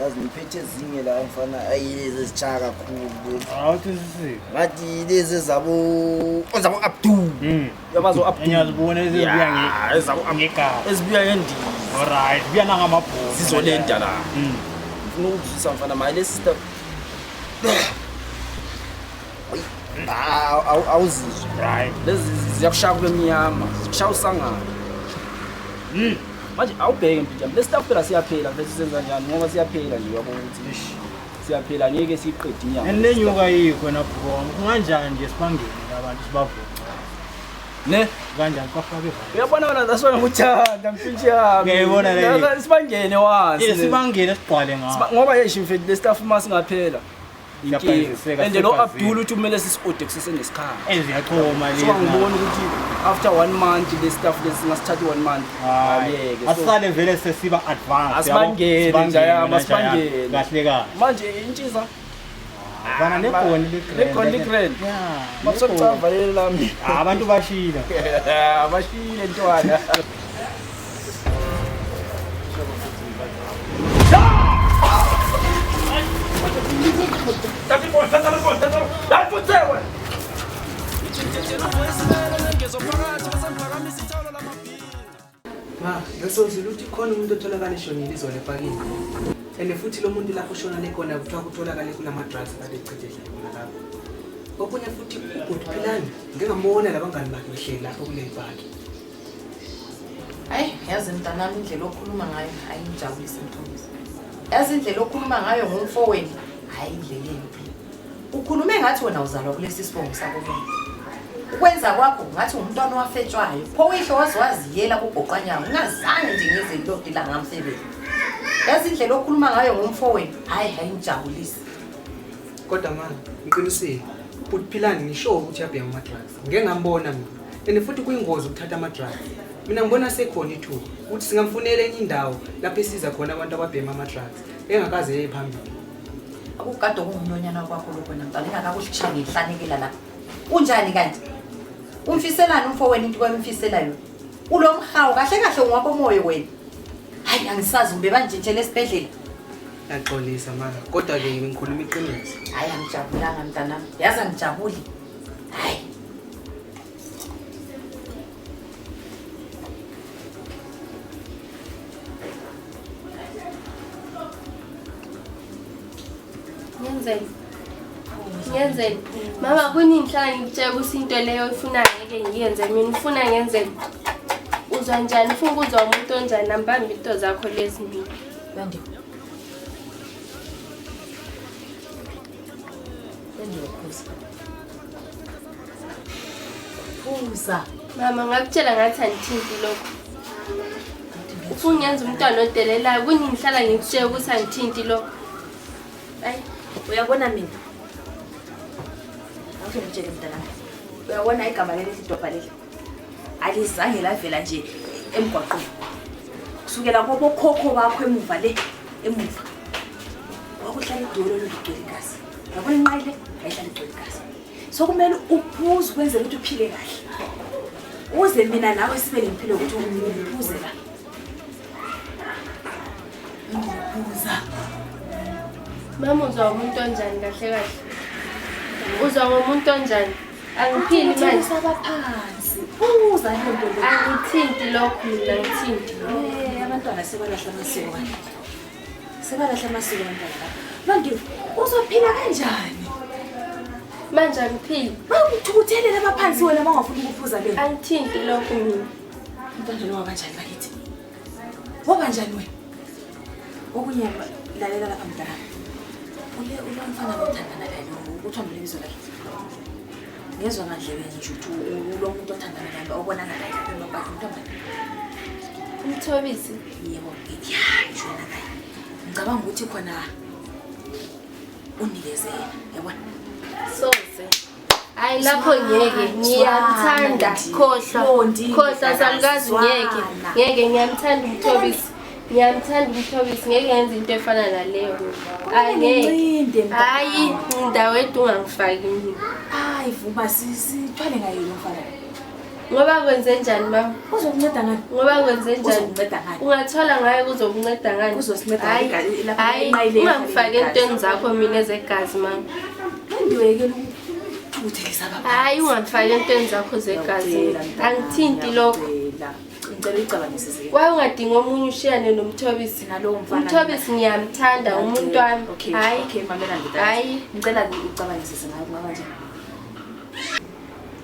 yazi ngiphethe ezinye la mfana ayi lezi ezitshaya kakhulu ngathi lezi ezabo abdul hmm. yabazo abdulezibuya ngendizizolenta la hmm. ngifuna ukuzwisa mfana maye lesi awuzizwe lezi ziyakushaya kube mnyama kushaya usangana hmm. manje awubheke mpinjami le staff phela siyaphela vele sisenza njani ngoba siyaphela nje uyabona ukuthi siyaphela ngeke siyiqede inyama and le nyuka yikho nabhukoma kunganjani nje sibangene abantu sibavuke ne kanjani kwafaka ivalo uyabona wena that's why ngikuthanda mfintshi yami ngiyayibona le sibangene wansi sibangene sigqwale ngawo ngoba yesho mfethu le staff uma singaphela and lo abdul uthi kumele sisi-ode kusesenesikhala sowangibona ukuthi after one month le staff lesi singasithathi one month asisale vele sesiba advanceasibangele njayama sibangele kahle kahle manje intshiza vana negoni ligoni ligrand masokucavalele lami abantu bashile bashile ntwana Ma, ngisozile ukuthi khona umuntu otholakala eshonile izolo epakini. And futhi lo muntu lapho ushonale khona kuthiwa kutholakale kulama drugs kade echithele khona lapho. Okunye futhi uGood Philani ngingambona labangani bakhe behleli lapho kule paki. hayi yazi mntanami indlela okhuluma ngayo hayi ngijabulise mthomisi yazi indlela okhuluma ngayo ngomfowenu hayi indlela embi ukhulume ngathi wena uzalwa kulesi sibongo sakobona ukwenza kwakho ngathi ngumntwana owafetshwayo pho uyihlo waze waziyela kugoqanyawo ungazange nje ngize into odila ngamsebenzi yazi indlela okhuluma ngayo ngomfowenu hayi hayi ngijabulise kodwa mama ngiqinisile bhuti philani ngisho ukuthi yabheka ama-drugs ngike ngambona mina and futhi kuyingozi ukuthatha ama-drugs mina ngibona sekhona ithuba ukuthi singamfunela enye indawo lapho esiza khona abantu ababhema ama-drugs engakaze yeye phambili akukade okungumlonyana kwakho lokho namntwana ingakakuhlisha ngihlanekela la unjani kanti umfiselani umfo wena into kwamfisela yona ulo mhawu kahle kahle ngwakomoya wena hayi angisazi ube banjintshela esibhedlela yaxolisa mara kodwa-ke ngikhuluma iqiniso hayi angijabulanga mntanami yazi angijabuli ngenzeni ngenzeni mama kuningi ngihlala ngikutshela ukuthi into leyo ifunayo ngeke ngiyenze mina ufuna ngenzeni uzwa njani ufuna ukuzwa umuntu onjani nambambi into zakho lezi mina Phuza. Mama ngakutshela ngathi angithinti lokho. Ufuna ngenza umntwana odelelayo kunye ngihlala ngikutshela ukuthi angithinti lokho. Ayi uyabona mina. Awuke ngitshele mntanami. Uyabona igama leli sidobha leli. alizange lavela nje emgwaqweni kusukela kobokhokho bakho emuva le emuva wakuhlala idolo lolugcwele igazi yabona inqayi le yayihlala igcwele igazi so kumele uphuze ukwenzela ukuthi uphile kahle uze mina nawe sibe nempilo ukuthi uphuze la ngiphuza mama uzwa umuntu onjani kahle kahle uzwa ngomuntu onjani Angithini manje sabaphansi. Uza into lo. Angithinti lokho mina ngithinti. Eh abantwana sebalahla amasiko wani. Sebalahla amasiko abantwana. Manje uzophila kanjani? Manje angiphili. Bangithukuthele lapha phansi wena mawafuna ukuphuza le. Angithinti lokho mina. Umntwana lo wabanjani bakithi? Waba njani wena? Okunye lalela lapha mdala. Uye uye umfana othandana naye ukuthi ambile ibizo lakhe. Ngezwe ngadlebe nje ukuthi ulo muntu othandana naye obonana naye lapha emabhakeni ntombazane. Umthobisi. Yebo, ngiyayi shona naye. Ngicabanga ukuthi khona unikezela, yabona? Soze. hayi lapho ngeke ngiyamthanda khohlwa khohlwa samkazi ngeke ngeke ngiyamthanda umthobisi ngiyamthanda umthobisi ngeke ngenza into efana naleyo angeke hayi ndawo edu ungangifaki mina hayi vuma sithwale ngayo lo mfana ngoba kwenze njani mama uzokunceda ngani ngoba kwenze njani ungathola ngayo kuzokunceda ngani ungangifaki entweni zakho mina ezegazi mama hayi ungangifaki entweni zakho zegazi angithinti lokho waye ungadinga omunye ushiyane nomthobisi umthobisi ngiyamthanda umuntu wami hayi hayi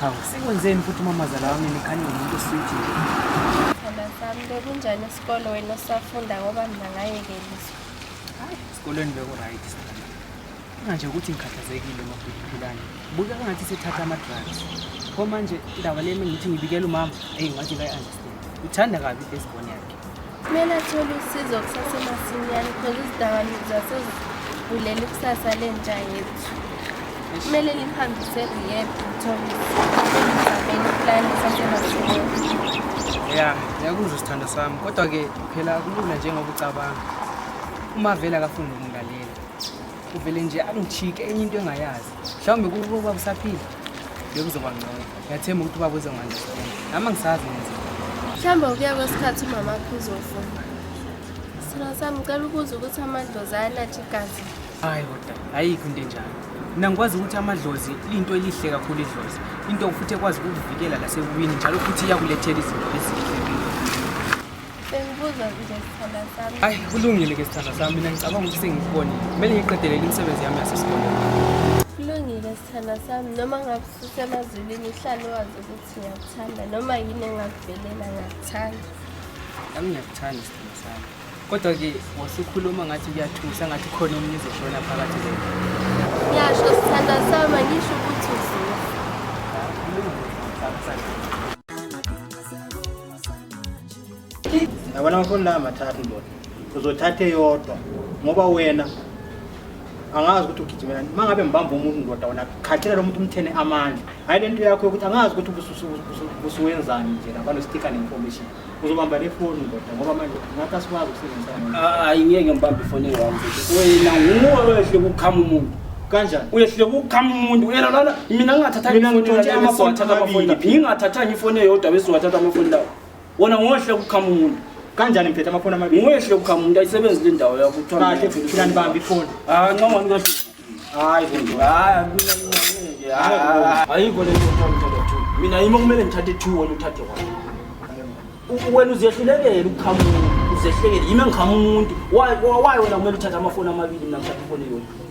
Hawu, sikwenzeni futhi umamazala wami nikhanye ngomuntu oswiti nje. Khona sami bekunjani isikole wena osafunda ngoba mina ngayekeliswa. Hayi, esikolweni beku-right sithanda. Manje ukuthi ngikhathazekile mabhiliphilane. Buka ngathi sethatha ama-drugs. Pho manje indaba le mina ngithi ngibikela umama, eyi ngathi kayi-understand. Uthanda kabi i-firstborn yakhe. Kumele athole usizo kusasemasinyane because izidakamizwa sezivulele ikusasa lentsha yethu. Kumele liphambise rehab ngithole izameni plan sasemasinyane. Ya, ngiyakuzwa sithando sami. Kodwa ke phela kulula njengoba ucabanga. Uma vele akafundi ukungalela. Uvele nje angijike enye into engayazi. Mhlawumbe kukuba usaphila bekuzoba ngcono. ngiyathemba ukuthi ubaba uzongandistand nami angisazi ngenza mhlawumbe ukuya kwesikhathi umama akho uzofuna sithina sami ngicela ukuza ukuthi amadlozi ayanatsha igazi hayi kodwa ayikho into enjalo mina ngikwazi ukuthi amadlozi liyinto elihle kakhulu idlozi into futhi ekwazi ukukuvikela lasekuwini njalo futhi iyakulethela izinto ezihlekile bengibuza nje sithanda sami hayi kulungile ke sithanda sami mina ngicabanga ukuthi sengikubonile kumele ngiqedelele imisebenzi yami yasesikoleni kulungile sithanda sami noma ngabe Sisemazulwini uhlale wazi ukuthi ngiyakuthanda noma yini engakuvelela ngiyakuthanda. Nami ngiyakuthanda sithando sami. Kodwa-ke wasukhuluma ngathi kuyathusa ngathi khona omunye uzoshona phakathi kwenu. Ngiyasho sithanda sami angisho ukuthi uzile. Kulungile, ngiyakuthanda. yabona amafoni la mathathu ndoda uzothatha eyodwa ngoba wena angazi ukuthi ugijimela uma ngabe ngibamba umuntu ndoda wona khathela lo muntu umthene amandla hhayi le nto yakho yokuthi angazi ukuthi usuwenzani nje lapha nostika ne-information uzobamba le foni ndoda ngoba manje ngathi asikwazi ukusebenzisana hayi ngeke ngibambe ifoni engiwami wena nguwe wehle kukhama umuntu kanjani uyehluleka ukukhama umuntu yena lana mina ngingathathanga ifoni yami amafoni athatha amafoni lapha ngingathathanga ifoni eyodwa bese wathatha amafoni lawo wona ngohle ukuqhama umuntu kanjani mphethe amaphone amabili ngohle ukuqhama umuntu ayisebenzi le ndawo yakho kuthiwa kahle futhi philani bambi ifoni ah ncoma ni kahle hayi futhi hayi nje ayikho le nto ngithatha two mina yimi okumele ngithathe two wena uthathe one wena uzehlulekele ukuqhama umuntu uzehlekele yimi engiqhama umuntu why why wena kumele uthathe amafoni amabili mina ngithathe ifoni yona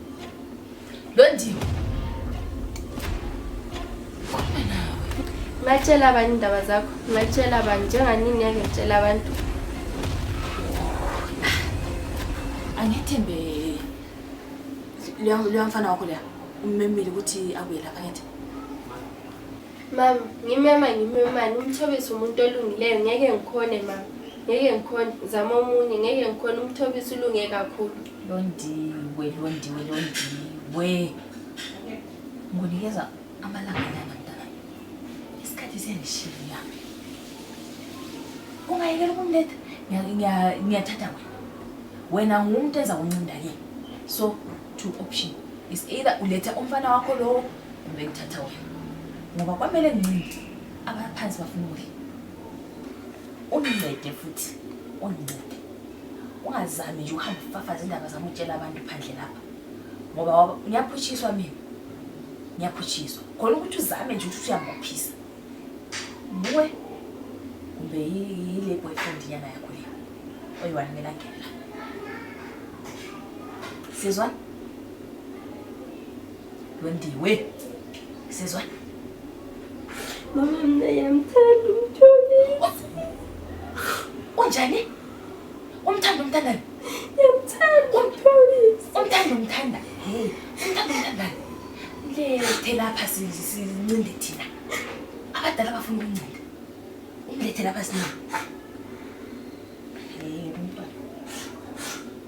Londiwe. Ngatshela abanye indaba zakho. Ngatshela abanye njenganini ngeke ngitshela abantu. Angethembe leya mfana wakho leya ummemile ukuthi abuye lapha ngithi. Mama, ngimema ngimemani umthobisi umuntu olungileyo ngeke ngikhone mama. Ngeke ngikhone zama omunye ngeke ngikhone umthobisi ulunge kakhulu. Londiwe, Londiwe, Londiwe. Ngonikeza amalanga nyana mntana. Isikhathi siyandishiya. Ungayekela ukumletha. Ngiyathatha wena. Wena ngumuntu enza kuncinda ke. So, two option. Is either uletha umfana wakho lo kumbe ngithatha wena. Ngoba kwamele ngincinde. Abaphansi bafuna ukudla. Ungincede futhi. Ungincede. ungazami nje ukuhamba ufafaza indaba zami utshela abantu phandle lapha ngoba ngiyaphutshiswa mina ngiyaphutshiswa khona ukuthi uzame nje ukuthi usuyamuphisa buwe kumbe yile boyfriend nyana yakho le oyiwani mina ngena sizwa londiwe sizwa mama mina yamthanda umtholi unjani Umthanda umthandani? Ngiyamthanda uMphawulisi. Umthanda umthanda. Hey, umthanda umthandani? Lethe lapha sincinde thina. Abadala bafuna ukuncinde. Umlethe lapha sina.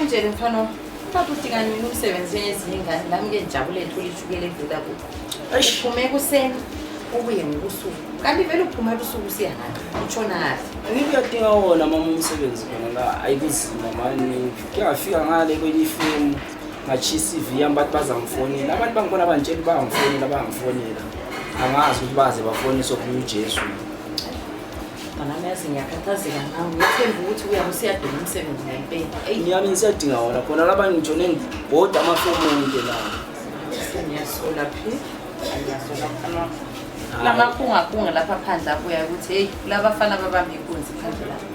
Unjeni mfana wami? Papa udinga nini umsebenzi njengezinye ingane? Nami ke ngijabule ngithole ishukela evela kubo. Uphume ekuseni ubuye ngobusuku. Kanti vele uphuma ebusuku usiya ngani? Utshona kahle. Angithi uyadinga wona mama umsebenzi khona la ayikuzima mani kuyafika ngale kwenye ifemu ngatshisa iCV yami bathi bazangifonela abantu bangibona bangitshela uba bangifonela bangifonela angazi ukuthi baze bafoniswe kuye uJesu mntanami yazi ngiyakhathazeka ngawo ngithemba ukuthi uyabe usiyadinga umsebenzi ngempela eyi ngiyami ngisiyadinga wona khona laba ngijone ngibhoda amafomu onke lawo ngiyasola phi ngiyasola lamakhungakhunga lapha phandle abuya ukuthi heyi kulabafana babamba inkunzi phandle lapha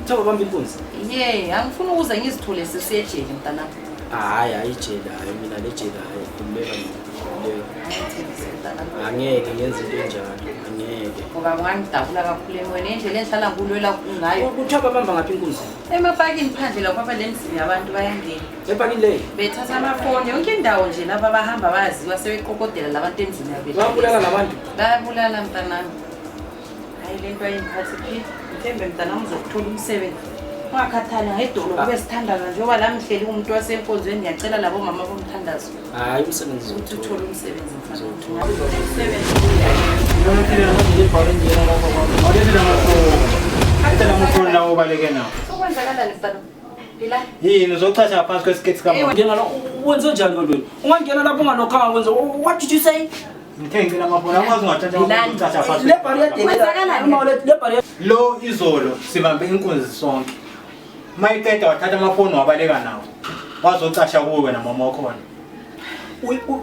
Cha bamba inkunzi. Yey, angifuni ukuze ngizithole sesiyejele mntanami. Hayi, hayi jele, hayi mina le jele hayi kumeka mina. Angeke ngenze into enjalo, angeke. Ngoba ungangidabula kakhulu emoyeni indlela engihlala kulwela ngayo. Kuthiwa babamba ngaphi inkunzi? Emapakini phandle lapho abalemzini yabantu bayangena. Epakini leyi? Bethatha amafoni yonke indawo nje laba bahamba baziwa sebeqokodela labantu emzini yabo. Babulala labantu? Bayabulala mntanami. Hayi le nto ayingiphathi phile. Mhlembe mntana ngizokuthola umsebenzi. Ungakhathali ngedolo kube sithandaza njengoba la ngihleli umuntu wasenkonzweni ngiyacela labo mama bomthandazo. Hayi umsebenzi Ukuthi uthole umsebenzi mfana. Umsebenzi. obaleke nawo Sokwenzakalani mfana? Phila. yini uzochaza ngaphansi kwesiketi Ewe. Ngena la wenze njani kanti wena? Ungangena lapho ungalokho angakwenza. What did you say? Lo izolo sibambe inkunzi sonke. Mayiqeda wathatha amafoni wabaleka nawo. Wazocasha kuwe wena mama wakhona.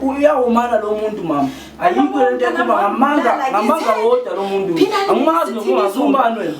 uyawumana lo muntu mama ayikho lento ekhuluma ngamanga ngamanga wodwa lo muntu angimazi nokungazi umbani wena